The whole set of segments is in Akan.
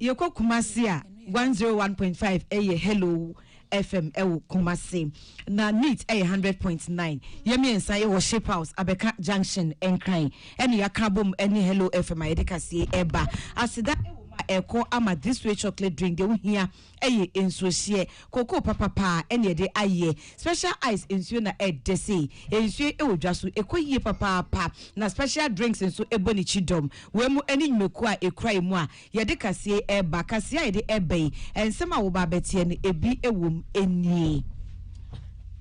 Yɛkɔ Kumasi a, one zero one point five ɛyɛ Hello FM ɛwɔ Kumasi, na NITT ɛyɛ hundred point nine. Yɛn mmiɛnsa yɛwɔ Ship House, Abɛka Junction, Nkran, ɛna yɛaka abom ɛne Hello FM a yɛde kaseɛ ɛreba. Aseda ɛwɔ mu a ɛrekɔ ama This Way Chocolate Drink deɛ wohia. Ɛyɛ nsuohyeɛ. Kokoo papa paa na yɛde ayɛ. Special ice nsuo na ɛdɛ sei. Nsuo yi wɔ dwa so. Ɛkɔ yie papaapa. Na special drinks nso bɔ ne kyidɔm. Wei mu ne nnwumakuo a ɛkura mu a yɛde kaseɛ yi reba. Kaseɛ a yɛde reba yi, nsɛm a woba abɛteɛ no, ɛbi wɔ mu nie.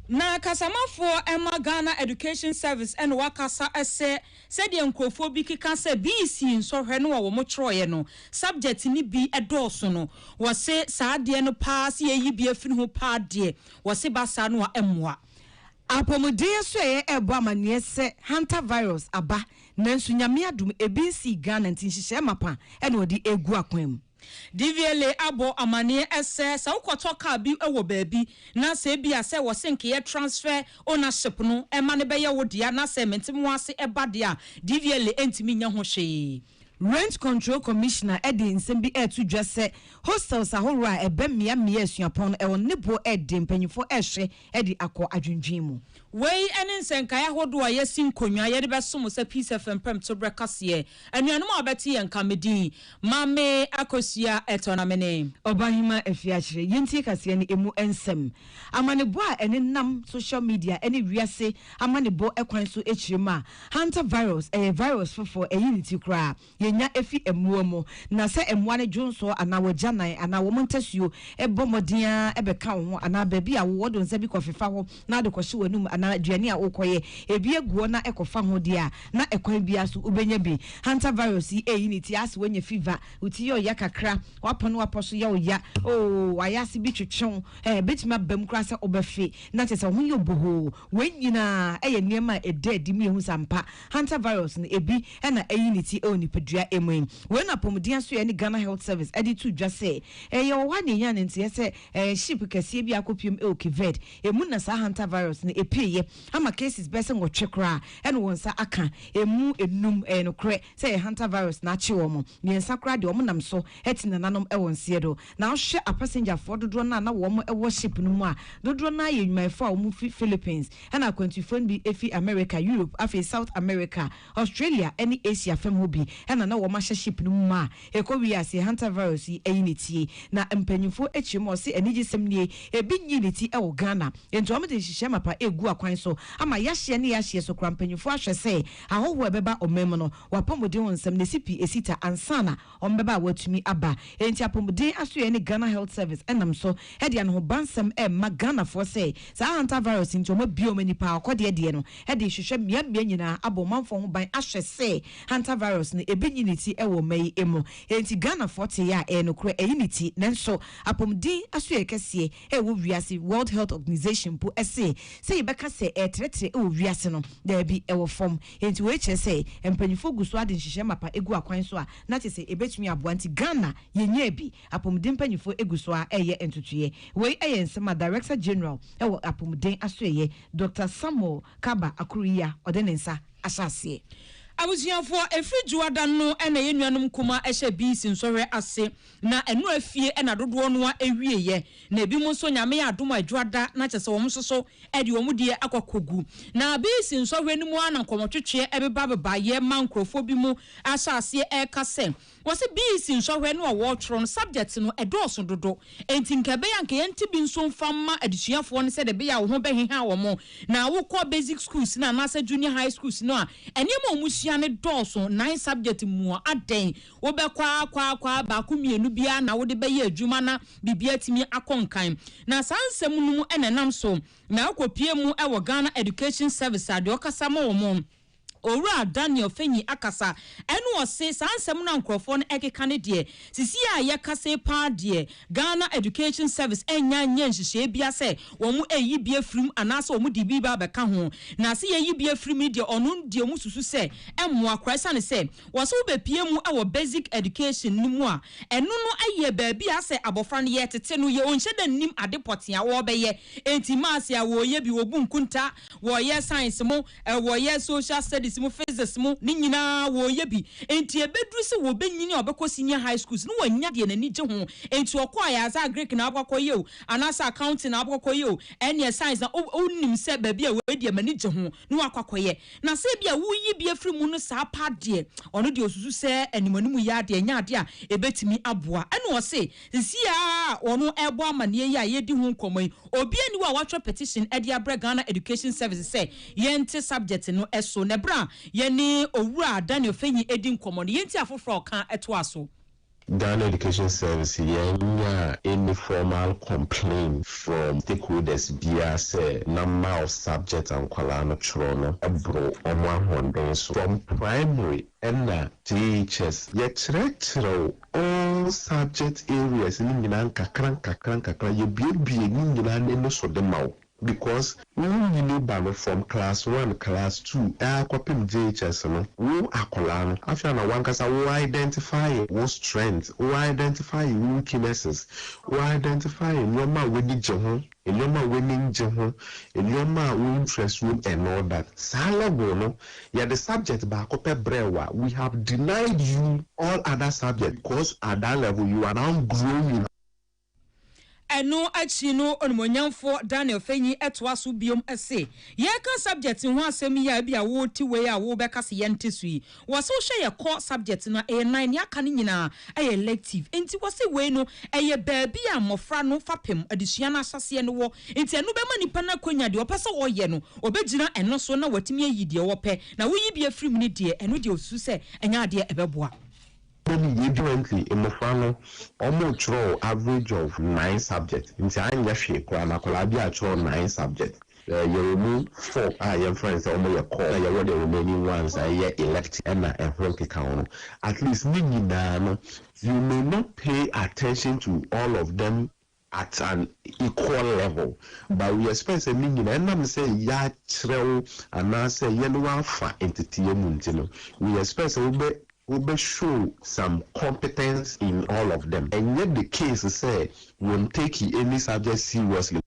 Na kasamafoɔ ma Ghana Education Service na wɔakasa sɛ. Sɛdeɛ nkorɔfoɔ bi keka sɛ bii sii nsɔhwɛ no a wɔn twerɛeɛ no subject no bi dɔɔso no, wɔse saa adeɛ no paa sɛ yɛyi bi afiri ho paa deɛ wɔse ba saa no a ɛmmoa. Apɔmuden asoɛeɛ rebɔ amaneɛ sɛ Hanta virus aba nanso Nyame adom ebi nsii Ghana nti nhyehyɛɛ mapa na wɔde regu akwan mu. DVLA abɔ amanneɛ sɛ, sɛ wokɔtɔ kaa bi wɔ baabi na sɛ ebia sɛ wɔsenkeyɛ, transfer ownership, no ma no bɛyɛ wo dea na sɛ mentemoase ba de a, DVLA ntumi nyɛ ho hwee. Rent Control Commissioner de nsɛm bi reto dwa sɛ hostels ahorow a ɛbɛn mmeammea asuapɔn no wɔ ne bo de mpanyimfo rehyɛ de akɔ adwendwen mu. Wei ne nsɛnkae ahodoɔ a yɛasi nkonnwa yɛde bɛso mo sɛ Peace FM Pɛmto berɛ kaseɛ. Anuanom a wɔbɛte yɛn nka, Medin, Mame Akosua Etɔ na mene. Ɔbahema Afiakyere. Yɛntie kaseɛ no ɛmu nsɛm. Amanebɔ a ɛnenam social media ne wiase amanebɔ kwan so kyerɛ mu a, Hantavirus, ɛyɛ virus foforɔ, ayi ne ti koraa. yenya fi mmoa mu. Na sɛ mmoa no dwonsɔ anaa wɔagyanan anaa wɔn ntasuo bɔ mmɔden ara bɛka wo ho anaa baabi a wowɔ wode nsa bi kɔfefa hɔ na wode kɔhye w'anom anaa aduane a worekɔyɛ ebi agu hɔ na ɛkɔfa ho deɛ a, na ɛkwan biara so wobɛnya bi. Hantavirus yi reyi ne ti ase, woanya fever, wo ti yɛ wo ya kakra, w'apɔn ne w'apɔ so yɛ wo ya, oh, w'ayase bi twetwe wo, eh, ɛbɛtumi aba mu koraa sɛ wobɛfe na kyerɛ sɛ wo ho yɛ wo bohoo. Wei nyinaa yɛ nneɛma a ɛda adi ma yɛhu sɛ ampa, hantavirus no, ebi na ayi ne ti wɔ nipadua mu yi. Wei na Apɔmuden Asoɛeɛ ne Ghana Health Service de too dwa sɛ, ɛyɛ wɔ hɔ a na yɛnyaa no nteɛ sɛ ship kɛseɛ bi a akɔpiem wɔ Cape Verde, emu na saa hantavirus no pueeɛ ama cases bɛyɛ sɛ nwɔtwe koraa na wɔn nsa aka, emu nnum, ɛyɛ nokorɛ sɛ ɛyɛ hantavirus na akye wɔn, mmiɛnsa koraa deɛ wɔnam so te nananom wɔn seɛ do. Na wohwɛ apasenjafoɔ dodoɔ no a na wɔn wɔ ship no mu a, dodoɔ no ara yɛ nnwumayɛfoɔ a wɔn firi Philippines, ɛna akwantufoɔ no bi firi America, Europe, afei South America, Australia ne Asia fam hɔ bi na na wɔn ahyɛ ship no mu ma a ɛkɔ wie aseɛ Hantavirus yi ayi ne tie. Na mpaninfoɔ akyire mu a wɔse anigyesɛm nie, ɛbi nyii ne ti wɔ Ghana, enti wɔn de nhyehyɛɛ mapa ɛregu akwan so ama yahyeɛ ne yahyeɛ so koraa mpaninfoɔ ahwɛ sɛ ahɔhoɔ a ɛbɛba ɔman mu no wɔapɔmuden ho nsɛm no ɛsi pi ɛsi ta ansa na wɔbɛba a wɔatumi aba. Enti Apomuden Asoɛe ne Ghana Health Service ɛnam so de anohobansɛm ɛrema Ghanafoɔ sɛ saa Hantavirus nti wɔabue wɔn ani paa akɔdeɛ deɛ no de rehwehwɛ mmeammea nyinaa abɔ ɔmanfoɔ ho ban ahwɛ sɛ Hantavirus no ebi nyi ne ti wɔ mma yi mu. Enti Ghanafoɔ tee a ɛyɛ nokorɛ ayi ne ti nanso Apomuden Asoɛe kɛseɛ ɛwɔ wiase, World Health Organization mpo se sɛ yɛbɛka sɛ ɛretrɛtrɛ wɔ wiase no, daabi, ɛwɔ fam. Enti wei kyerɛ sɛ mpanyimfoɔ gu so ara de nhyehyɛe mapa gu akwan so a na kyerɛ sɛ ɛbɛtumi aboa. Nti Ghana yɛnyaa bi. Apɔmuden mpanyimfoɔ gu so ara reyɛ ntotoeɛ. Wei yɛ nsɛm a Director General wɔ Apɔmuden Asoɛeɛ, Doctor Samuel Kaba Akuriya ɔde ne nsa ahyɛ aseɛ. Abusuafoɔ, ɛfiri Dwoada no na yɛn nuanom nkumaa hyɛɛ BEC nsɔhwɛ ase. Na ɛno afie na dodoɔ no ara wieɛ, na ebinom nso Nyame yɛ adom a adwo ada na kyerɛ sɛ wɔn nso so de wɔn deɛ akɔ akɔgu. Na BC nsɔhwɛ no mu ara na nkɔmmɔtwetweɛ beba bebaeɛ ma nkorɔfoɔ bi mu ahyɛ aseɛ reka sɛ, wɔse BC nsɔhwɛ no a wɔretwerɛ no subjects no ɛdɔɔso dodo, enti nka ɛbɛyɛ a anka yɛnte bi nso mfa mma adesuafoɔ no sɛdeɛ ɛbɛyɛ a wo ho bɛheha wɔn na wokɔ basic schools no anaasɛ junior high schools no a nneɛma a wɔsua no dɔɔso nnan subjects mu a adɛn wobɛkwaakwaakwaa baako mmienu biara na wode bɛyɛ adwuma na biribi atumi akɔ nkan. Na saa nsɛm no mu na ɛnam so na ɛkɔpue mu wɔ Ghana Education Service a deɛ ɔkasa ma wɔn, Owura Daniel Fenyi akasa ɛna ɔse saa nsɛm no a nkorɔfoɔ no ɛkeka no deɛ, sisi a yɛkasa yi paa deɛ Ghana Education Service ɛnnya nyɛɛ nhyehyɛɛ biara sɛ wɔn ɛreyi bi afiri mu anaasɛ wɔn de biribi abɛka ho. Na se yɛyi bi afiri mu no deɛ ɔno deɛ wɔsusu sɛ ɛmmoa koraa ɛsiane sɛ Wɔse wobɛpie mu wɔ basic education no mu a, ɛno no yɛ baabi a sɛ abɔfra no yɛtete no yɛ ɔnhyɛ da nnim ade pɔtee a wɔbɛyɛ. Enti maths a wɔyɛ bi, wɔbu nkunta, wɔyɛ science mo, wɔyɛ social studies mo, physics mo, ne nyinaa wɔyɛ bi. Enti ɛbɛduru sɛ wɔbɛnyini a ɔbɛkɔ senior high schools no wanya deɛ n'ani gye ho. Enti ɔkɔ a yɛase agric na wabɛkɔ akɔ yɛ o, anaasɛ accounting na wabɛkɔ akɔ yɛ o, ɛneɛ science na, wo, wonim sɛ baabi a wei deɛ m'ani gye ho. na wakɔ akɔyɛ, na sɛ ebia woreyi bi afiri mu no saa paa deɛ, ɔno deɛ ɔsusu sɛ animuanimu yɛ ara deɛ ɛnyɛ adeɛ a ɛbɛtumi aboa. Ɛna ɔse, sesie ara a wɔn rebɔ amanneɛ yi a yɛredi ho nkɔmmɔ yi, obiara nni hɔ a watwerɛ petition de abrɛ Ghana Education Service sɛ yɛnte subject no so. Na ɛberɛ a yɛne Owura Daniel Fenyi redi nkɔmmɔ no, yɛntie afoforɔ a ɔka toa so. Ghana Education Service yɛnyaa any formal complain from stakeholders biara sɛ na mouse subject a nkwadaa no twerɛ no boro wɔn ahoɔden so. From primary na JHS yɛkyerɛkyerɛw all subject areas no nyinaa nkakra nkakra nkakra, yɛbuebue ne nyinaa no ani so de ma wo. Because wo nyini ba no from class one, class two aa kɔpem JHS no, wo akɔlaa no afei ana wankasa wo identifye wo strength, wo identifye wo weakinesses, wo identifye nnoɔma a w'ani gye ho, nnoɔma a w'ani ngye ho, nnoɔma a wo interest wom and all that. Saa level no, yɛde subject baako pɛ brɛɛ wo a, we have denied you all other subject because at that level you are now growing. Ɛno akyi no Onimuonyamfoɔ Daniel Fenyi toa so bio se, Yɛreka subject ho asɛm yi a ebia wo te wei a wobɛka se yɛnte so yi, wɔse wohwɛ yɛ core subject no a ɛyɛ nan, nea aka no nyinaa yɛ elective. Nti wɔse wei no ɛyɛ baabi a mmɔfra no fapem adesua no ahyɛseɛ no wɔ. Nti ɛno bɛma nipa no akwanya deɛ ɔpɛ sɛ ɔyɛ no ɔbɛgyina ɛno so na watumi ayi deɛ ɔpɛ. Na woyi bi afiri mu no deɛ ɛno deɛ ɔsusu sɛ ɛnyɛ adeɛ ɛbɛboa. Daily yɛ adwuma nti mmofra no wɔn kyerɛw average of nine subject nti anyɛ hwee koraa no akwadaa bi a kyerɛw nine subject yɛwɔ mu four a yɛn frɛ no sɛ wɔn yɛ core na yɛwɔ deɛ remaining ones a ɛyɛ elective ɛna ɛho nkeka ho no at least ne nyinaa no you may not pay attention to all of them at an equal level but we expect sɛ ne nyinaa ɛnam sɛ yɛakyerɛw anaasɛ yɛne wo afa nteteɛ mu nti no we expect sɛ wobɛ wobɛ show some competence in all of them ɛnyɛ the case sɛ wɔn take any subject seriously.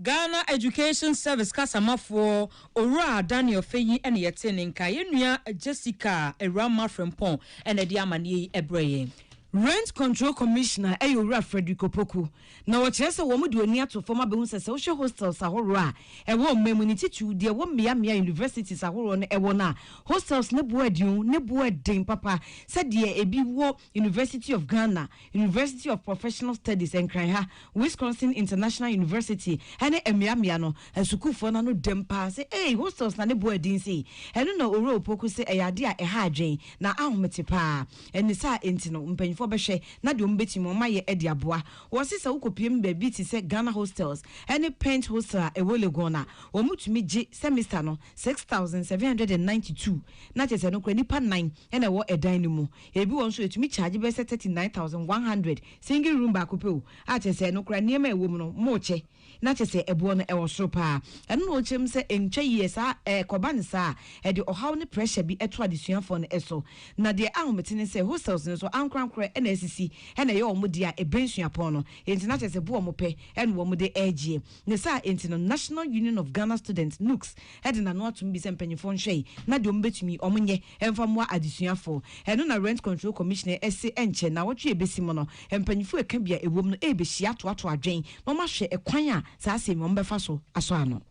Ghana Education Service Kasamafoɔ, Owura Daniel Feiyi na yɛtee ne nka. Yɛn nua Jessica Awuramah Frimpong na ɛde amaneɛ yi brɛɛ yɛn. Rent Control Commissioner yɛ Owura Frederick Opoku, na ɔkyerɛ sɛ wɔde wɔn ani ato fam abɛhu sɛ sɛ wohwɛ hostels ahoroɔ a ɛwɔ ɔman mu no, titiriw deɛ ɛwɔ mmea mmea a universities ahoroɔ no wɔ no a, hostels no bo adio, ne bo yɛ den papa sɛdeɛ ɛbi wɔ. University of Ghana, University of Professional Studies Nkran ha, Wisconsin International University ne mmeammea no, asukuufoɔ no ano dam paa sɛ eei hostels na ne bɔɔ adin sei. Ɛno na Owura Opoku se ɛyɛ adeɛ a ɛha adwene na ahomete paa. Ɛne saa nti no mpanyinfoɔ bɛhwɛ na deɛ wɔbɛtumi wɔn ayɛ de aboa. Wɔse sɛ wokɔpiem baabi te sɛ Ghana Hostels ne Pent Hostel a ɛwɔ Legon a, wɔtumi gye semester no six thousand seven hundred and ninety two na kyerɛ sɛ ɛno koraa nnipa nnan na ɛwɔ ɛdan no mu. Ebi wɔ hɔ nso a etumi charge bɛyɛ sɛ thirty nine thousand one hundred, single room baako pɛ o, a kyerɛ sɛ ɛno koraa nneɛma a ɛwɔ mu no mokyɛ, na kyerɛ sɛ ɛboɔ no ɛwɔ soro paa. Ɛno na ɔkyerɛ mu sɛ ɛntwa yie, sɛ ɛkɔba no saa a, ɛde ɔhaw ne pressure bi to adesuafoɔ no so. Na deɛ ahomete ne sɛ hostels no nso ankorankorɛ na asisi na ɛyɛ wɔn deɛ a ɛbɛn suapɔn no, enti na kyerɛ sɛ boɔ a wɔpɛ na wɔde regyeɛ. Ne saa enti no National Union of Ghana Students, NUGS, de n'ano atom bi sɛ mpanyimfoɔ nhwɛe na deɛ wɔbɛtumi wɔn nyɛ mfa mmoa adesuafoɔ. Ɛno na Rent Control Commissioner se ɛnkyɛ nnawɔtwe a ɛbɛsi mu no, mpanyimfoɔ a ɛka bi a ɛwom no rebɛhyia atoatoa adwene na wɔn ahwɛ kwan a saa asɛm yi wɔn bɛfa so asɔ ano.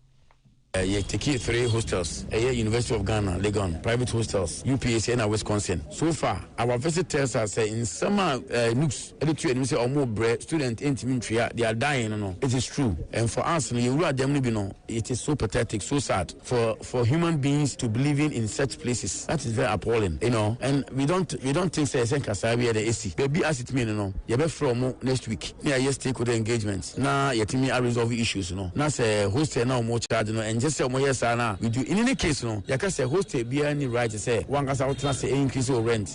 Yɛ Tekee Three Hostels ɛyɛ University of Ghana Legon Private Hostels, UPAC ɛna Wisconsin. So far our visit tells us sɛ nsɛm a Nuks de to anim sɛ ɔmo brɛ student ntumi ntwea their dying no no it is true and for us no yɛn wura dɛm no bi no it is so pathetic so sad for for human beings to be living in such places that is very appalling you know and we don't we don't think sɛ ɛsɛ nka saa bi yɛ dɛ esi baabi as it may no no yɛbɛfrɛ ɔmo next week na yɛayɛ stakeholder engagement na yɛtumi a resolve issues no na sɛ hostel na ɔmo charge no ɛnkyɛ sɛ ɔmo yɛ saa na we do in any case no yɛka sɛ hostel biara ni right sɛ wankasa wotena sɛ ɛyɛ increase o rent.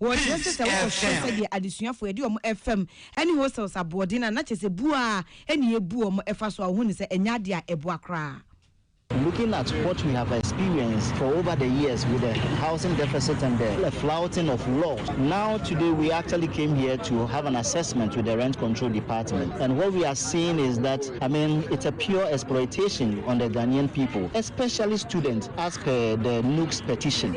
Wɔkyerɛ sɛ sɛ wokɔhwɛ sɛdeɛ adesuafoɔ yɛde wɔn fam ne hostels aboɔden a na kyerɛ sɛ bu ara na yɛbu wɔn fa so a wohu no sɛ ɛnyɛ adeɛ a ɛboa koraa. Looking at what we have experienced for over the years with the housing deficit and the flouting of laws, now today we actually came here to have an assessment with the rent control department and what we are seeing is that I mean it's a pure exploitation on the Ghanaian people especially students as per the NUGS petition.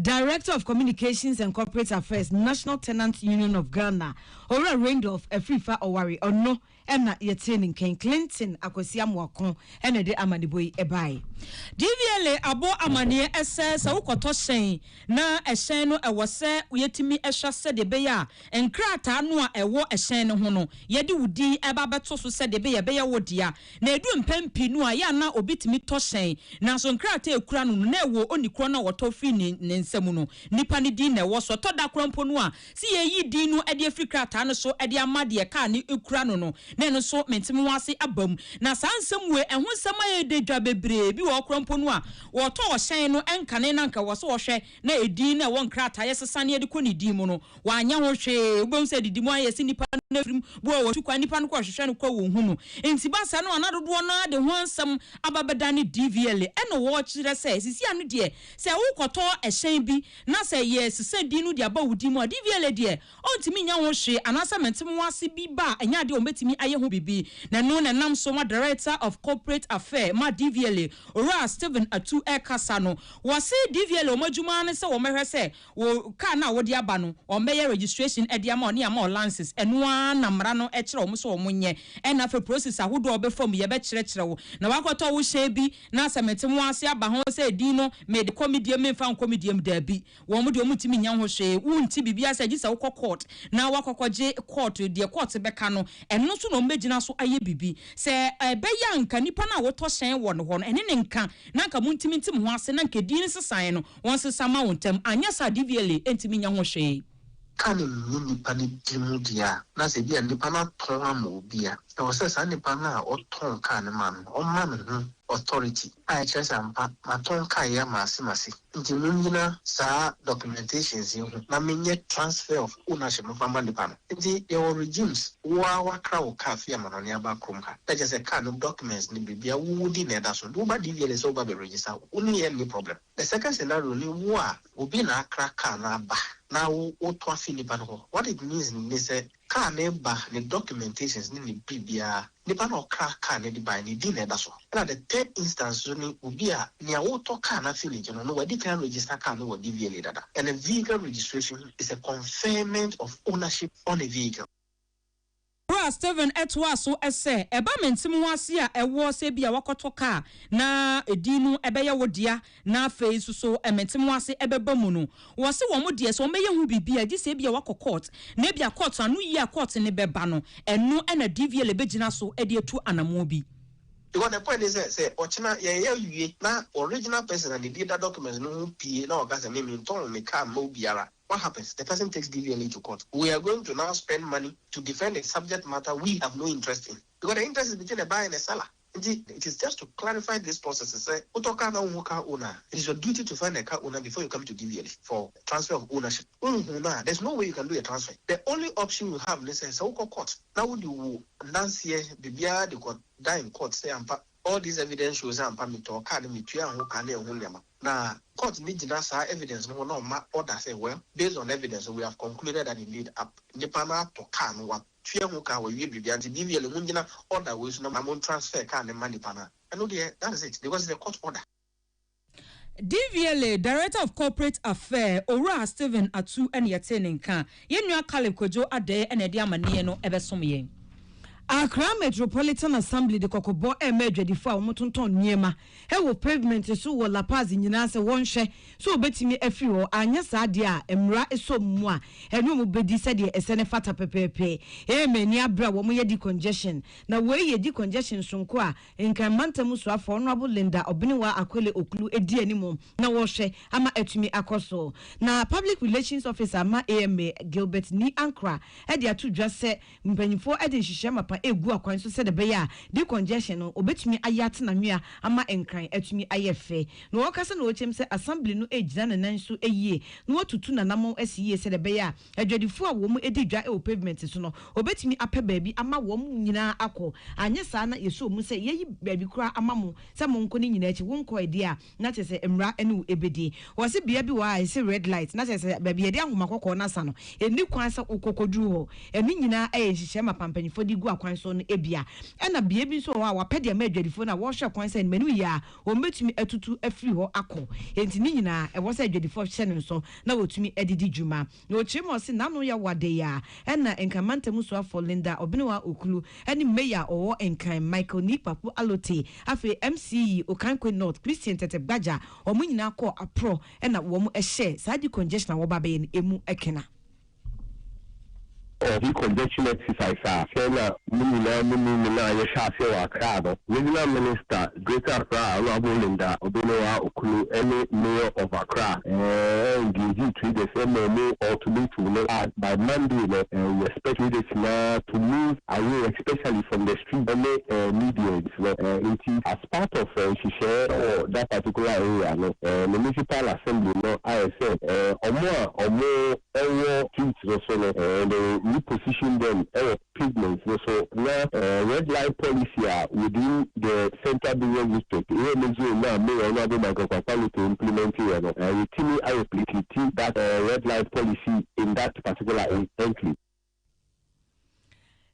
Director of Communications and Corporate Affairs, National Tenants Union of Ghana, Owura Randolph Afrifa Ɔware, ɔno na yɛtee ne nken. Clinton Akwasi Amoako na ɛde amanebɔ yi baeɛ. DVLA abɔ amaneɛ sɛ, sɛ wokɔtɔ hyɛn na ɛhyɛn no ɛwɔ sɛ yɛtumi hwɛ sɛdeɛ ɛbɛyɛ a nkrataa no a ɛwɔ ɛhyɛn no ho no, yɛde wo din ɛba abɛto so sɛdeɛ ɛbɛyɛ a ɛbɛyɛ wo dea. Na edu mpɛn pii no a, yɛ a na obi tumi tɔ hyɛn, nanso nkrataa a ekura no no, na ɛwɔ onii korɔ no a ɔtɔ firi ne ne nsa mu no nipa no din na ɛwɔ so. Ɛtɔ da koraa mpo no a, sɛ yɛreyi din no de afiri krataa no so de ama deɛ kaa no kura no no, na ɛno nso me ntemehoase aba mu. Na saa nsɛm wei, ɛho nsɛm ayɛ dɛ dwa. Bebree bi wɔ hɔ koraa mpo no a, wɔtɔɔ hyɛn no nkane na anka ɛwɔ sɛ wɔhwɛ na edin no a ɛwɔ nkrataeɛ sesa ne ɛde kɔ ne din mu no, wanyɛ ho hwee. Wobɛhu sɛ adidi mu ayɛ sɛ nnipa no afirim bu a wɔtu kwan, nnipa no kɔ rehwehwɛ no koa wɔnhu no. Enti ba saa no a na dodoɔ no ara de ho nsɛm aba bɛdane DVLA. Ɛna wɔkyerɛ sɛ sisi ano deɛ sɛ wokɔtɔ ɛhyɛn bi na sɛ yɛsesa din no de aba wo din mu a, DVLA deɛ, Ontumi nyɛ ho hwee anaasɛ mente mo ase bi ba a ɛnyɛ ade a ɔbɛtumi ayɛ ho biribi na ɛno na ɛnam so ma Director of Corporate Affair ma DVLA, Owura Stephen Atu rekasa no. Wɔse DVLA wɔn adwuma ara ne sɛ wɔbɛhwɛ sɛ wo car no a wode aba no wɔbɛyɛ registration de ama wo ne ama wo lances. Ɛno ara na mmara no kyerɛ wɔn sɛ wɔn nyɛ. Ɛna afei process ahodoɔ a wɔbɛfa mu yɛbɛkyerɛkyerɛ wo. Na woakɔtɔ wo hyɛn bi na sɛ mente mo ase aba ho sɛ edin no mede kɔ me diem memfa nkɔ me diem, daabi. Wɔn deɛ wɔntumi nyɛ ho hwee, wonte biribiara sɛ gye sɛ wokɔ court na woakɔkɔgye court deɛ court bɛka no, ɛno so na wɔbɛgyina so ayɛ biribi. Sɛ ɛbɛyɛ a anka nipa no a wotɔ hyɛn wɔ ne hɔ no, ɛne ne nka na anka montumi nte mo ho ase na anka edin nsesaeɛ no wɔnsesa mma wo ntɛm, anyɛ saa a DVLA ntumi nyɛ ho hwee. ka no nni nnipa no di mu deɛ a, na sɛ ebia nnipa no atɔn ama obi a, ɛwɔ sɛ saa nnipa no a ɔtɔn kaa no maa no no, ɔma ne ho authority a ɛkyerɛ sɛ ampa matɔn kaa yi ama ase ma ase, nti monnyina saa documentations yi ho na menyɛ transfer of ownership mfa mma nnipa no. Nti yɛwɔ regimes, wo ara woakra wo kaa fi amanɔne aba kurom ha, na kyerɛ sɛ kaa no documents ne biribiara wowɔ din na ɛda so, nti woba DVLA sɛ woba abɛ register, wo ne yɛn nni problem. The second scenario ne wo a obi na akra car no aba na wo woto afi nipa no hɔ. What it means ne sɛ car no ba, ne documentations ne ne biribiara, nipa no a ɔkra car no de bae no ne din na ɛda so. Ɛna the third instance nso ne obi a nea wotɔ car no afi ne gye no no wadi kan register car no wɔ DVLA dada. And a vehicle registration is a conferment of ownership on a vehicle. Bere a Stephen toaa so sɛ, Ɛba me ntem ho ase a ɛwɔ sɛ ebia woakɔtɔ kaa na edin no bɛyɛ wo dea na afei nso so me ntem ho ase bɛba mu no, wɔse wɔn deɛ sɛ wɔbɛyɛ ho biribi a, gye sɛ ebia woakɔ court na ebia court ano yie a court no bɛba no, ɛno na DVLA bɛgyina so de atu anammɔn bi. Because the point ne sɛ, sɛ ɔkyena yɛyɛ awie na original person a ne din da document no ho pue na ɔka sɛ, Me mentɔn me kaa mma obiara. What happens the person takes BVLA to court we are going to now spend money to defend a subject matter we have no interest in because the interest is between the buyer and the seller nti it is just to clarify this process sɛ wotɔ car na wonhu car owner a it is your duty to find the car owner before you come to BVLA for transfer of ownership wonhu no a there is no way you can do a transfer the only option you have ne sɛ sɛ wokɔ court na wode wo adanseɛ biribiara de kɔ da in court sɛ ampa all this evidence shows sɛ ampa metɔɔ car no metuaa ho ka ne ɛho nneɛma. Na court no gyina saa evidence no ho na ɔma order sɛ well based on evidence no we have concluded that indeed ap nipa no atɔ car no watua ho ka wawie biribiara nti BVLE mo ngyina order wei so na mo transfer car no mma nipa no a ɛno deɛ that is it because it's a court order. DVLA Director of Corporate Affair Owura Stephen Atu na yɛtee ne nka. Yɛn nua Caleb Kwadwo Adɛɛ na ɛde amanneɛ no bɛsom yɛn. Accra Metropolitan Assembly de kɔkɔbɔ rema adwadifo a wɔtontɔn nneɛma wɔ pavement so wɔ La Paz nyinaa sɛ wɔnhwɛ sɛ wɔbɛtumi afiri hɔ, anyɛ saa deɛ a mmara sɔ wɔn mu a ɛne wɔn bɛdi sɛdeɛ ɛsɛ ne fata pɛpɛɛpɛ. Ee, m'ani abere a wɔyɛ decongestion. Na wei yɛ decongestion sononko a Nkan Mantam Soafoɔ Honourable Linda Obenewaa Akole Oklu di anim na wɔrehwɛ ama atumi akɔ so. Na Public Relations Officer ma AMA, Gilbert Nii Ankrah de ato dwa sɛ, Mpanyimfoɔ de nhyehyɛɛ mapa regu akwan so sɛdeɛ ɛbɛyɛ a decongestion no wɔbɛtumi ayɛ atena nwea ama Nkran atumi ayɛ fɛ. Na wɔkasa na wɔkyɛm sɛ Assembly no regyina ne nan so yie na wɔatutu n'anamɔn asi yie sɛdeɛ ɛbɛyɛ a adwadifoɔ a wɔdi dwa wɔ pavement so no wɔbɛtumi apɛ baabi ama wɔn nyinaa akɔ anyɛ saa na yɛsɔ mu sɛ yɛayi baabi koraa ama mo sɛ monkɔ ne nyinaa akyi wonkɔɛ deɛ a na kyerɛ sɛ mmara ne wo ɛbɛdi. Wɔse bea bi wɔ hɔ a ɛse red light, na kyerɛ sɛ baabi yɛde ahoma kɔkɔɔ no asa no, ɛnni kwan sɛ wokɔ kɔduru hɔ. Ɛno nyinaa ɛyɛ nhyehyɛe ma pampanyimfoɔ de gu akwan so no bia. Ɛna bea bi nso wɔ hɔ a wɔapɛ de ama adwadifoɔ no a wɔhwɛ kwan sɛ animaniu yɛ a, wɔbɛtumi atutu afiri hɔ akɔ. Enti ne nyinaa ɛwɔ sɛ adwadifoɔ hyɛ no nso na wɔtumi de di dwuma. Na ɔkyerɛ mu a, ɔse n'ano yɛ wadee a ɛna Nkan mantamu soafoɔ Linda Obenewa Oklu ne Mayor a ɔwɔ Nkan Michael Nii Kpaku Alotey afei MCE Okankwe North Christian Tete Gbagya wɔn nyinaa kɔɔ aprɔ na wɔn hyɛɛ saa decongestion a wɔba abɛyɛ no ɛmu kena. Ɔhwe Conjection Exercise a sɛ na mo nyinaa mo nim no no a yɛhyɛ aseɛ wɔ Accra no, Regional Minister, Greater Accra, Honourable Linda Obenuwaa Okunu ne Mayor of Accra ɛɛ engagee traders ma ɔmo ultimatum no a by Monday no ɛɛ we expect traders nyinaa to move away especially from the streets ne ɛɛ medians no ɛɛ nti as part of ɛɛ nhyehyɛɛ wɔ that particular area no ɛɛ Municipal Assembly no ayɛ sɛ ɛɛ ɔmo a ɔmo Ɔwɔ street no so no eh they will reposition them wɔ pavement no so na eh red light policy a within the central business district wɔ ne zone no a mayor Honourable Michael Kwakwa Lotto implement yɛ no eh yɛtumi a replicate that eh red light policy in that particular enclave.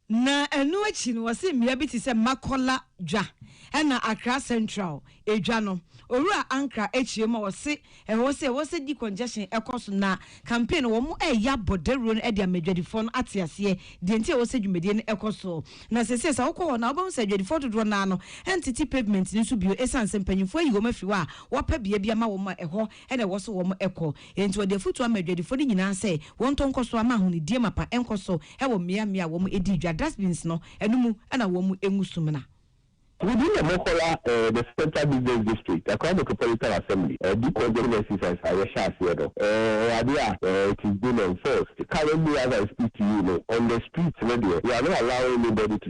Na ɛno akyi no, wɔse mmea bi te sɛ Makola dwa ɛna Accra Central edwa no, Owura Ankrah akyire ma wɔse ɛwɔ sɛ wɔse di congestion ɛkɔ so na campaign no wɔn ɛɛyɛ abɔ dawuro no ɛde ama adwadifoɔ no ate aseɛ deɛ nti a ɛwɔ sɛ dwumadie no ɛkɔ so. Na seesei sɛ wokɔ hɔ no a wobɛhu sɛ adwadifoɔ dodoɔ no ara no ɛntete pavement no so bio ɛsiane sɛ mpanyinfoɔ ayi wɔn afiri hɔ a wɔapɛ bea bi ama wɔn a ɛhɔ na ɛwɔ so wɔn kɔ. Enti ɔde afotu ama adwadifoɔ no nyinaa sɛ wɔntɔ nkɔ so ama ahonidie mapa nkɔ so wɔ mmea mmea a wɔn di dwa, dustbins, no no mu na wɔn ngu sumina. Within the Mokola, eh, the Central Business District, Accra Metropolitan Assembly, eh, Dikor General Exercise a yɛhyɛ aseɛ no, eh, ɛyɛ adeɛ a, eh, it is being enforced. Currently as I speak to you no, on the streets no deɛ, we are not allowing anybody to.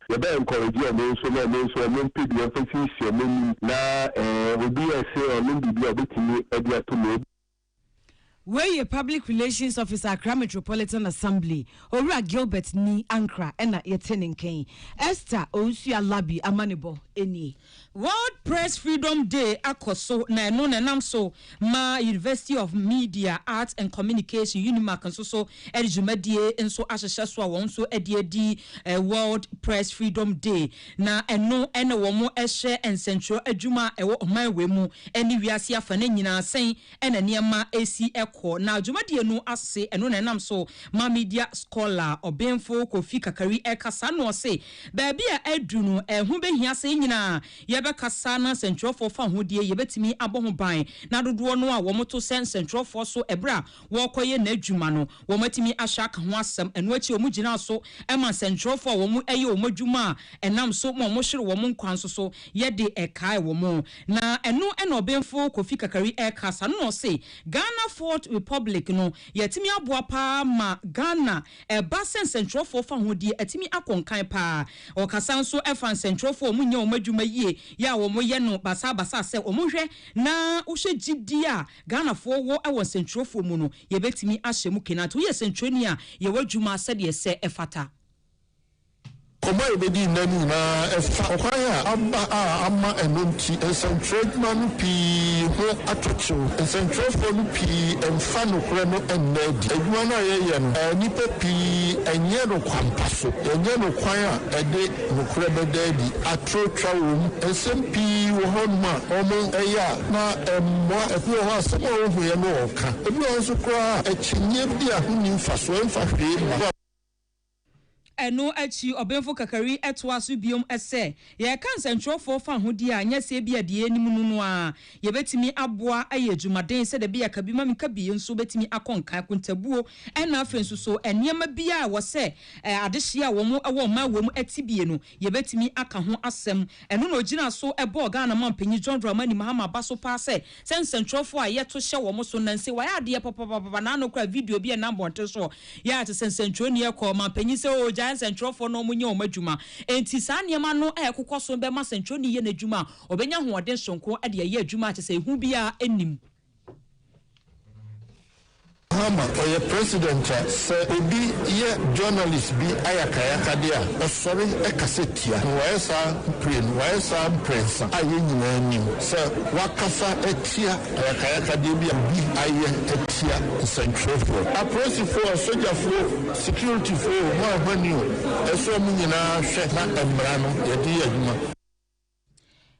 Yɛbɛ encourage ɔmo nso na ɔmo nso ɔmo mpɛ bi ɔmfa siesie ɔmo anim na ɛɛ obi a ɛse ɔnom biribi a ɔbɛtumi ɛde ato mu. Wei yɛ Public Relations Officer Accra Metropolitan Assembly, Owura Gilbert Nii Ankrah ɛna yɛte ne nka yi. Esther Owusu-Alabi amanebɔ nie. World Press Freedom Day akɔ so na ɛno na ɛnam so ma University of Media, Arts and Communication, Unimac, nso so de dwumadie nso ahyehyɛ so a wɔn nso de adi World Press Freedom Day na ɛno na wɔhyɛ nsɛntwerɛ adwuma a ɛwɔ ɔman wei mu ne wiase afa no nyinaa sɛn na nneɛma si kɔ na dwumadie no ase ɛno na ɛnam so ma Media Scholar Ɔbenfo Kofi Kakari ɛkasa na ɔse Baabi a adu no, ɛho behia sɛ yɛn nyinaa yɛbɛkasa na sɛnkyerɛwfo fa ho deɛ yɛbɛtumi abɔ ho ban na dodoɔ no a wɔto sɛ nsɛnkyerɛwfoɔ so berɛ a wɔrekɔyɛ n'adwuma no, wɔatumi ahyɛ aka ho asɛm. Ɛno akyi wɔgyinaa so ma nsɛnkyerɛwfo a wɔyɛ wɔn adwuma a ɛnam so ma wɔhwere wɔn nkwa nso so yɛ de kaee wɔn. Na ɛno na Ɔbenfo Kofi Kakari rekasa no na ɔse, Ghana Fourth Republic no, yɛatumi aboa pa ara ma Ghana Ɛba sɛ nsɛntwerɛfoɔ fa ho deɛ, atumi akɔ nkan pa ara. Ɔkasa nso fa nsɛntwerɛfoɔ a wɔnyɛ wɔn adwuma yie yɛ a wɔyɛ no basabasa sɛ wɔnhwɛ na wohyɛ gyidie a Ghanafoɔ wɔ wɔ nsɛntwerɛfoɔ mu no, yɛbɛtumi ahyɛ mu kena. Nti woyɛ sɛntwerɛni a, yɛ w'adwuma sɛdeɛ ɛsɛ ɛfata. Nkɔmmɔ a yebedii nnɛ no nyinaa fa ɔkwan a aba a ama ɛno nti nsɛnkyerɛw adwuma no pii ho atɔ kyew. Nsɛnkyerɛwfo no pii mfa nokorɛ no nna adi. Adwuma no a yɛyɛ no, nnipa pii nyɛ no kwampa so. Yɛnyɛ no kwan a ɛde nokorɛ bɛda adi. Atoro twa wom. Nsɛm pii wɔ hɔnom a wɔyɛ a na ɛmmoa. Ebi wɔ hɔ a, asɛm a wohuiɛ no wɔka. Ebi wɔ hɔ nso koraa a, akyinnye bi a ho nni mfasoɔ, ɛmfa hwee mma. Ɛno akyi Ɔbenfo Kakari toa so bio sɛ, Yɛreka nsɛnkyerɛwfo fawohodie a, nyɛ sɛ ebia deɛ yɛnim no no ara. Yɛbɛtumi aboa ayɛ adwumaden sɛ dabi yɛka bi ma menka bi nso bɛtumi akɔ nkan, akontabuo, ɛnna afei nso so nneɛma bi a ɛwɔ sɛ adehyeɛ a wɔwɔ mmaa wom tibie no, Yɛbɛtumi aka ho asɛm. Ɛno na ɔgyinaa so bɔɔ Ghana Mampanyin John Dramani Mahama aba so paa sɛ sɛ nsɛntwerɛfoɔ a yɛto hyɛ wɔn so nnɛ nse wɔayɛ adeɛ papapapapa na ano koraa video bi ɛnam bɔnten soɔ yɛ a te sɛ nsɛntwerɛni ɛkɔ Mampanyin sɛ oo gyae nsɛntwerɛfoɔ na wɔnyɛ wɔn adwuma enti saa nneɛma no a ɛkokɔ so no bɛma sɛntwerɛni yɛ n'adwuma a ɔbɛnya ahoɔden sononko de ayɛ adwuma a kyɛ sɛ ehu biara nnim. Mahama ɔyɛ president a sɛ obi yɛ journalist bi ayakayakade a ɔsɔre kasa tia no. Wayɛ saa mprenu, wayɛ saa mprɛnsa a yɛn nyinaa nim sɛ wakasa atia ayakayakadeɛ bi a obi ayɛ atia nsɛntwerɛfoɔ, apolisifoɔ, asogyafoɔ, securityfoɔ, wɔn a wɔahwane o, ɛsɛ sɛ wɔn nyinaa hwɛ na mmara no yɛde yɛ adwuma.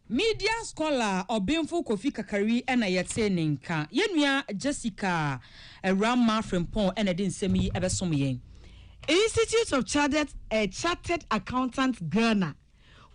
Media scholar Ɔbenfo Kofi Kakari na yɛtee ne nka. Yɛn nua Jessica Awuramah Frimpong na ɛde nsɛm yi bɛsom yɛn. Institute of Chartered eh, Chartered Accountants Ghana,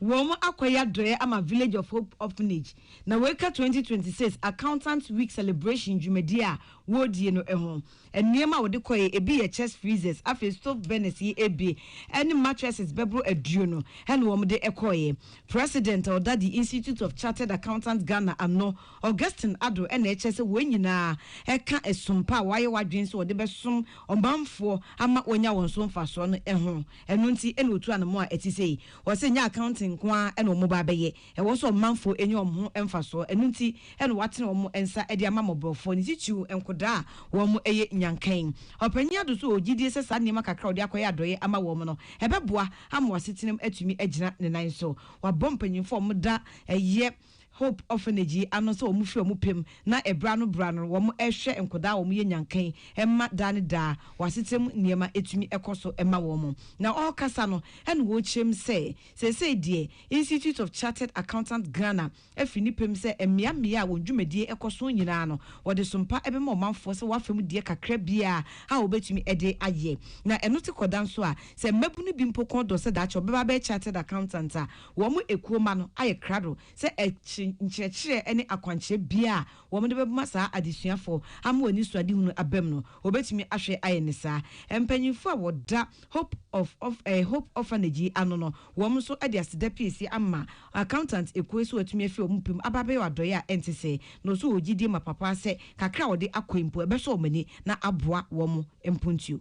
wɔn akɔyɛ adɔeɛ ama Village of Hope Orphanage na wɔreka 2026 Accountants Week Celebration dwumadie a wɔredie no ho. Nneɛma a wɔde kɔe, ebi yɛ chest freezers, afei stove burners yi abien, ɛne mattresses bɛboro aduonu na wɔde kɔe. President a ɔda The Institute of Chartered Accountants Ghana ano, Augustine Addo na ɛkyerɛ sɛ wɔn nyinaa ka som pa a wɔayɛ wɔadwene sɛ wɔde bɛsom ɔmanfoɔ ama wɔanya wɔn so mfasoɔ no ho. Ɛno nti na wɔtu anamɔ a ɛte sei. Ɔse ɛnyɛ accounting nko ara na wɔba abɛyɛ. Ɛwɔ sɛ ɔmanfoɔ nya wɔn ho mfasoɔ, ɛno nti na wɔatene wɔn nsa de ama mmɔborɔfoɔ, ne titiriw nkodaa a wɔyɛ nyankann. Ɔpanyin Addo nso wɔ gyidie sɛ saa nneɛma kakra a ɔde akɔyɛ adɔeɛ ama wɔn no, ɛbɛboa ama wɔn asetenam atumi agyina ne nan so. Wabɔ mpanimfoɔ a wɔda Ɛyɛ Hope Orphanage yi ano sɛ wɔmfi wɔn pɛ mu na berɛ ano berɛ ano no wɔhwɛ nkodaa a wɔyɛ nyankann mma daa ne daa wɔn asetenam nneɛma tumi kɔ so ma wɔn. Na ɔrekasa no na wɔrekyerɛ mu sɛ, Seesei deɛ, Institute of Chartered Accountants Ghana afiri ne pɛ mu sɛ mmea mmea a wɔn dwumadie kɔ so nyinaa no, wɔde som pa bɛma ɔmanfoɔ sɛ wɔafa mu deɛ kakra biara a wɔbɛtumi de ayɛ. Na ɛno te kɔda nso a, sɛ mmabunu bi mpo kɔn dɔ sɛ daakye wɔbɛba abɛyɛ chartered accountant a, wɔn ekuo mma no ayɛ krado sɛ nkyerɛkyerɛ ne akwankyerɛ biara a Wɔde bɛma saa adesuafo ama wɔn anisoadehunu abam no, wɔbetumi ahwɛ ayɛ ne saa. Mpanyimfo a wɔda Hope of of eh, Hope Orphanage yi ano no, wɔn nso de aseda pii asi ama Accountant Ekuo yi sɛ wɔatumi afi wɔn pɛ mu aba abɛyɛ adɔe a ɛnte sɛɛ, na wɔso wɔwɔ gyidie mapapaa sɛ kakra a wɔde akɔ yi mpo ɛbɛsɔ wɔn ani na aboa wɔn mpontio.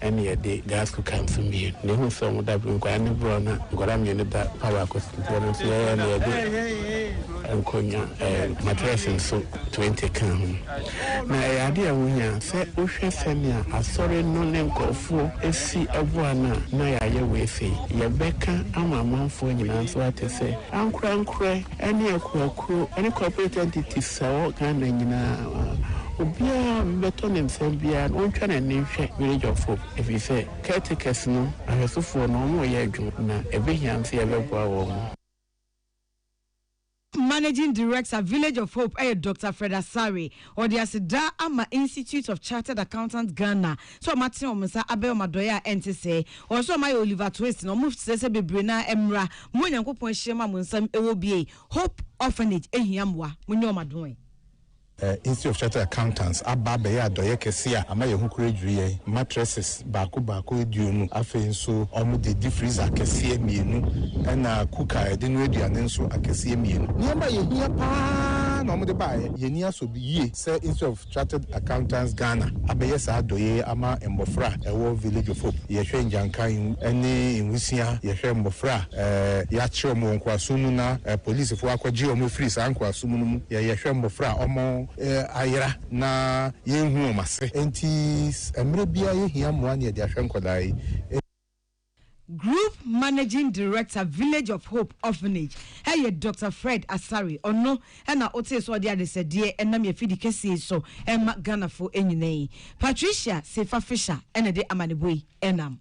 ɛne yɛde gas cooker nso mmienu. Na ehuu sɛ wɔn da bere nkwadaa ne borɔ na nkwadaa mmienu da pa baako so nti ɛno nso yɛyɛ na yɛde nkonnwa ɛɛ matress nso twenty kaa ho. Na ɛyɛ adeɛ a ɛho hia sɛ wohwɛ sɛnea asɔre no ne nkorɔfoɔ si boa no a na yɛayɛ wei sei. Yɛbɛka ama amanfoɔ nyinaa nso ate sɛ ankorankorɛ, ɛne akuakuo ɛne corporate entities a ɛwɔ Ghana nyinaa obiara bɛtɔ ne nsɛm biara no ɔntwa n'ani nhwɛ village of hope ɛfiri sɛ caretakers no ahwɛsofoɔ no wɔn reyɛ adwuma na ɛbɛhia nso yɛbɛboa wɔn. Managing Director, Village of Hope yɛ Doctor Fred Asare. Wɔde aseda ama Institute of Chartered Accountants Ghana sɛ wɔn atene wɔn nsa abɛyɛ wɔn adɔeɛ a ɛnte sɛɛ. Wɔn nso wɔn ayɛ Oliver Twist na wɔn srɛ sɛ bebree no ara mmra, mo a Onyankopɔn ahyira mu a mo nsa wɔ bie. Hope Orphanage hia mmoa, mo nyɛ wɔn adɔe. Institute of Chartered Accountants aba abɛyɛ adɔeɛ kɛseɛ a ama yɛn ho kura dwiri yɛn. Mattresses baako baako aduonu. Afei nso, wɔde difriza akɛseɛ mmienu, ɛna kuka a yɛde noa aduane nso akɛseɛ mmienu. Nneɛma a yɛhia pa ara na wɔde baeɛ. Yɛn ani asɔ yie sɛ Institute of Chartered Accountants Ghana abɛyɛ saa adɔeɛ yi ama mmɔfra a ɛwɔ Village of Hope. Yɛhwɛ Ngyanka ne Nwusia, yɛhwɛ mmɔfra a yɛakyere wɔn wɔ nkoasom mu na apolisifoɔ akɔgye wɔn afiri saa nkoasom no mu, yɛhwɛ mmɔfra a wɔayera. na yɛnhu wɔn ase. Enti mmerɛ biara yɛhia mmoa ne yɛde ahwɛ nkwadaa yi. Group Managing Director Village of Hope Orphanage yɛ Doctor Fred Asare, ɔno na wotee sɛ ɔde adesɛdeɛ ɛnam yɛn afidi kɛseɛ yi so rema Ghanafoɔ nyinaa yi. Patricia Seifa Fisher na ɛde amanebɔ yi nam.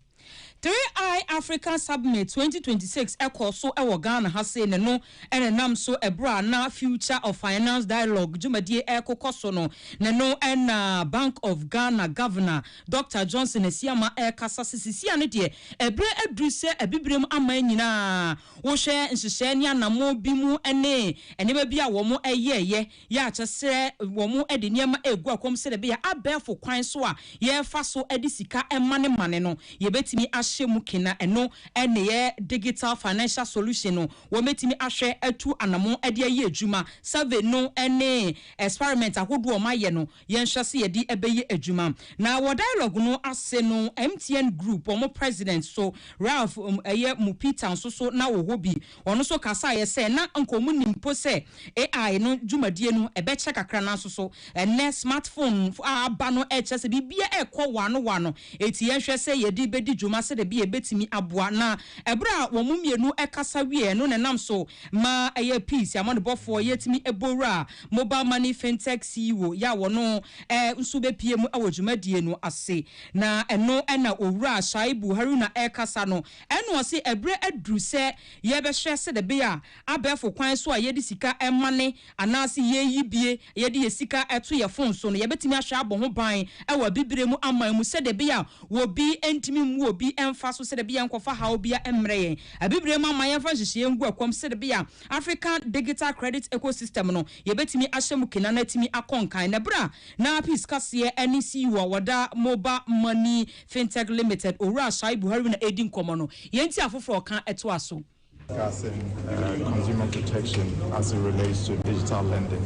Three Eye Africa Submit twenty twenty six kɔɔ so wɔ Ghana ha sei ne no nenam so ɛberɛ a na Future of Finance Dialogue dwumadie rekokɔ so no ne no na Bank of Ghana Governor Doctor Johnson Asiamah rekasa se sisi a ne deɛ ɛberɛ aduru sɛ Abibirem aman nyinaa wohwɛ nhyehyɛɛ ne anamɔn bi mu ne nneɛma bi a wɔn yɛɛyɛ Yɛakyɛ sɛ wɔde nneɛma regu akwan mu sɛdeɛ ɛbɛyɛ a abɛɛfo kwan so a yɛfa so de sika manemane no, yɛbɛtumi ahyɛ mu kena. Ɛno ne yɛ Digital Financial Solution no, wɔbɛtumi ahwɛ atu anamɔn de ayɛ adwuma. Survey no ne experiment ahodoɔ a wɔayɛ no, Yɛnhwɛ se yɛde ɛbɛyɛ adwuma. Na wɔ dialogue no ase no, MTN group, wɔn president so, Ralph ɛyɛ Mupita nso so na wɔ hɔ bi. Ɔno nso kasaeɛ sɛ na anka wɔn nnim mpo sɛ AI no dwumadie no ɛbɛkyɛ kakra nanso so ɛnnɛ smart phone a aba no ɛrekyerɛ sɛ biribiara ɛrekɔ waano waano. Enti yɛnhwɛ sɛ yɛde bɛdi dwuma sɛdeɛ bi a ɛbɛtumi aboa. Na ɛberɛ a wɔn mmienu ɛkasa wieɛ no na ɛnam so maa ɛyɛ peace, amanebɔfoɔ, yɛtumi bɔ wuraa Mobile Money Fintech CEO yɛ a wɔno ara nso bɛpue mu wɔ dwumadie no ase. Na ɛno na Owura Shaibu Haruna ɛrekasa no, ɛna ɔse ɛberɛ aduru sɛ yɛbɛhwɛ sɛdɛbɛyɛ a abɛɛfo kwan so a yɛde sika mane anaase yɛyi bie yɛde yɛ sika to yɛ fon so no yɛbɛtumi ahwɛ abɔ ho ban wɔ abibire mu aman mu sɛdɛbɛyɛ a obi ntumi mmu obi mfa so sɛdɛbɛyɛ a nkɔfa haw bia mmrɛ yɛn abibire mu aman yɛmfa nhyehyɛeɛ ngu ɛkɔm sɛdɛbɛyɛ a African Digital Credit Ecosystem no, yɛbɛtumi ahyɛ mu kena na atumi akɔ nkan. Na berɛ a na Peace Kaseɛ ne CEO a wɔda Mobile Money Fintech Limited, Owura Shaibu Haruna redi nkɔmmɔ no, yei nti afoforɔ reka toa so. discussing uh, consumer protection as it relates to digital lending.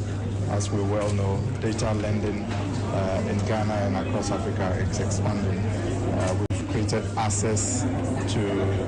As we well know, digital lending uh, in Ghana and across Africa is expanding. Uh, we've created access to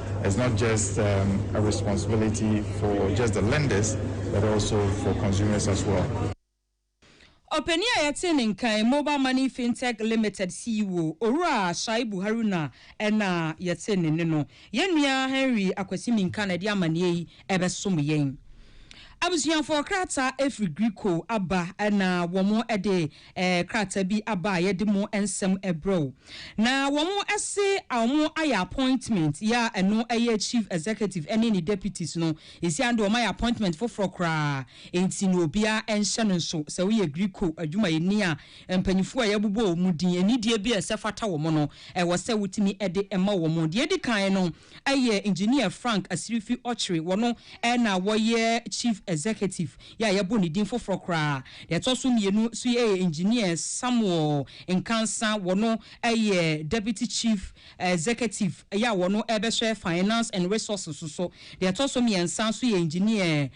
it's not just um, a responsibility for just the lenders but also for consumers as well. Ɔpanin a yɛte ne nkan Mobile Money Fintech Limited CEO Owura Shaibu Haruna na yɛte ne ne no. Yɛn nua Henry Akwasi Minka na ɛde amanneɛ yi ɛbɛsom yɛn. Abusuafoɔ krataa ɛfiri Griko aba na wɔn ɛde Ɛɛ krataa bi aba a yɛde mo nsɛm brɛ wo. Na wɔn se wɔn ayɛ appointment yɛ a ɛno yɛ chief executive ɛne ne deputies no. Ɛsi ano deɛ wɔn ayɛ appointment foforɔ koraa ɛnti no obiara nhyɛ no nso. Sɛ woyɛ Griko adwumayɛni a mpanyinfoɔ a yɛabobɔ wɔn din, anidie bi a ɛsɛ fata wɔn no ɛwɔ sɛ wotumi de ma wɔn. Deɛ ɛdi kan no. yɛ Engineer Frank Asirifi Ɔkyere, wɔno na wɔyɛ Chief Executive yɛ a yɛbɔ ne din foforɔ koraa. Deɛ ɛtɔ so mmienu nso yɛ Engineer Samuel Nkansa, wɔno yɛ Deputy Chief Executive yɛ a wɔno bɛhwɛ Finance and Resources so. Deɛ ɛtɔ so mmiɛnsa nso yɛ Engineer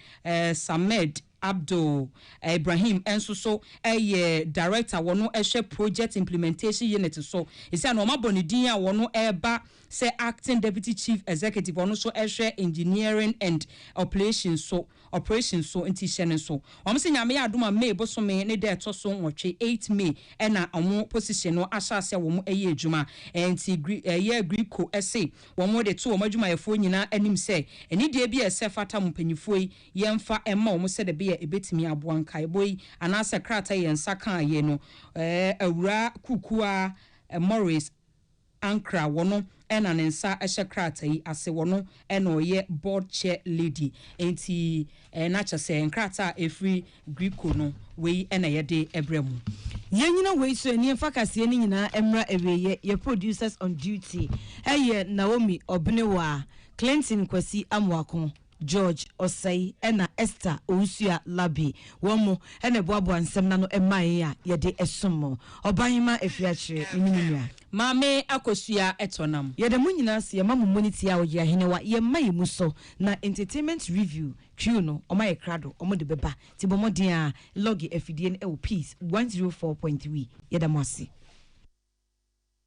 Samed. Abdul Ibrahim nso so yɛ Director wɔn hwɛ Project Implementation Unit so. Esiane wɔn abɔ ne din a wɔn reba sɛ Acting Deputy Chief Executive wɔn nso hwɛ Engineering and Operations so Operations so nti hyɛ no nso. Wɔn se Nyame adom a May bosome ne da ɛtɔ so nwɔtwe, eight May, na wɔn position no ahyɛ ase a wɔn yɛ adwuma. Nti Gre ɛyɛ Aggrieco se wɔn de to wɔn adwumayɛfoɔ nyinaa anim sɛ anidie bi a ɛsɛ fata mo mpanyinfoɔ yi yɛmfa mma wɔn sɛdeɛ ɛbɛyɛ a ɛbɛtumi aboa. Nkaebɔ yi, anaasɛ krataa yi yɛn nsa kaa yei no, Awuraa Kukuaa Morris Ankrah, wɔno na ne nsa hyɛ krataa yi ase, wɔno na ɔyɛ Board Chair Lady, enti na kyerɛ sɛ nkrataa a ɛfiri Griko no, wei na yɛde brɛ mo. Yɛnyina wei so ani mfa kaseɛ no nyinaa mmra awieɛ, yɛn producers on duty yɛ Naomi Ɔbenewaa, Clinton Kwasi Amoako. George Osei ɛna Esther Owusuya Larbi, wɔn mo ɛna ɛboaboa nsɛm no ano ɛma yɛn a yɛde ɛsom mo. Ɔbahema Afiakyire, me ne me nua. Maame Akosua ɛtɔ nam. Yɛda mo nyinaa ase, yɛma mo mmɔni tiaa Ɔyere Ahenewa, yɛn mma yɛn mu sɔ, na Entertainment Review Crew no wɔn ayɛ krado, wɔn de bɛba, nti bɔ mmɔden ara lɔge afidie no ɛwɔ Peace one zero four point three, yɛda mo ase.